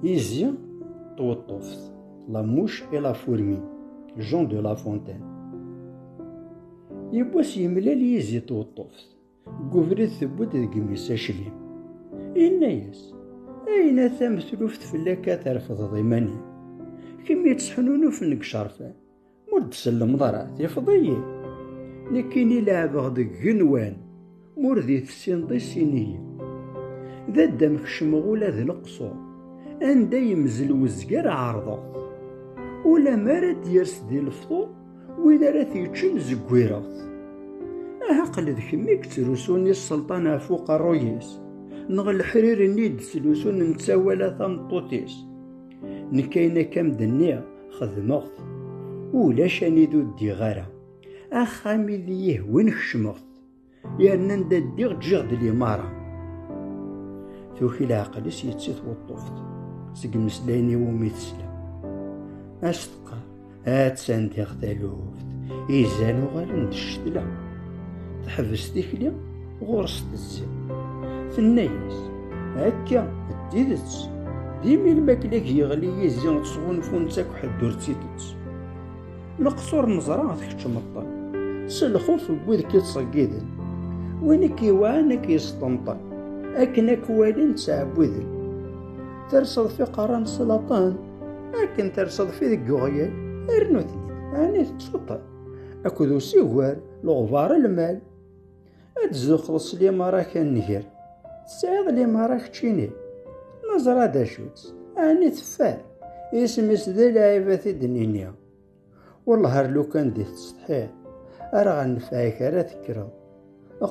Izi tweṭṭuft La mouche et la fourmi Jean de La Fontaine Yiwwas yemlal yizi tweṭṭuft Deg ubrid tewwi-d deg imi-s aclim Yenna-yas Ayen a tamtluft fell-ak ad terfdeḍ iman-im Kemm yettḥununufen deg icerfan Ur d-sellemeḍ ara, tifeḍ-iyi. Nekkini leɛbeɣ deg genwan, mur d tessineḍ i sin-iyi. D addam kecmeɣ ula d leqṣur, anda yemzel wezger ɛerḍeɣ-t. Ula mi ara d-yers di lefṭur, win ara t-yeččen zeggireɣ-t. Aha qel d kemm i yettrusun i sselṭan ɣef uqerruy-is, neɣ leḥrir-nni i d-slusun netta wala tameṭṭut-is. Nekk ayen akka m-d-nniɣ xedmeɣ-t, ulac anid ur ddiɣ ara. Axxam i d-yihwen kecmeɣ-t, yerna anda ddiɣ ǧǧiɣ-d limara. Tuki leɛqel-is yetti tweṭṭuft, seg meslayen iwumi tesla. As teqqar, Attan tiɣ taluft, izan uɣalen d ccetla. Teḥbes tikli, ɣur-s tezzi. Tenna-yas, akka, d tidet, d imi lmakla yeɣli yizi sɣunfun-tt akk ḥedd ur tt-itett. Leqṣur neẓra tkeččmeḍ-ten, s lxuf n wid k-ittṣeggiden. Win i k-iwɛan ad k-yesṭenṭen, akken ad k-walin ttɛebbuden. Terseḍ fiqaran s laṭan, Akken terseḍ fi deg uɣyal, rnu-ten-id, ɛni tettsuṭṭeḍ. Akked usigar, leɣbar lmal. Ad tzuxxeḍ s limaṛa ak nnger, tesɛiḍ limaṛa keččini. Neẓra d acu-tt, ɛni teffer. Isem-is d lɛib ad t-id-nini. Wellah ar lukan di tessetḥiḍ Ar ɣer nefɛik ara tekkreḍ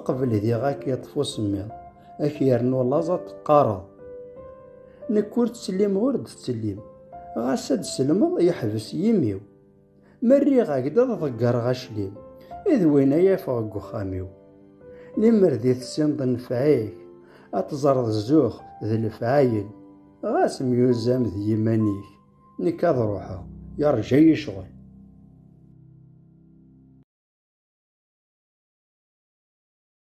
Qbel diɣ ak yeṭṭef usemmiḍ Ak yernu laẓ ad teqqareḍ Nekk ur ttsellimeɣ ur d-ttsellim Ɣas ad d-sellmeḍ yeḥbes yimi-w Ma rriɣ-ak-d ad ḍeggreɣ aclim I d win ay afeɣ deg uxxam-iw Limer di tessineḍ nefɛik Ad teẓreḍ zzux d lefɛayel Ɣas myuzam d yiman-ik nekk ad ruḥeɣ yeṛja-yi ccɣel.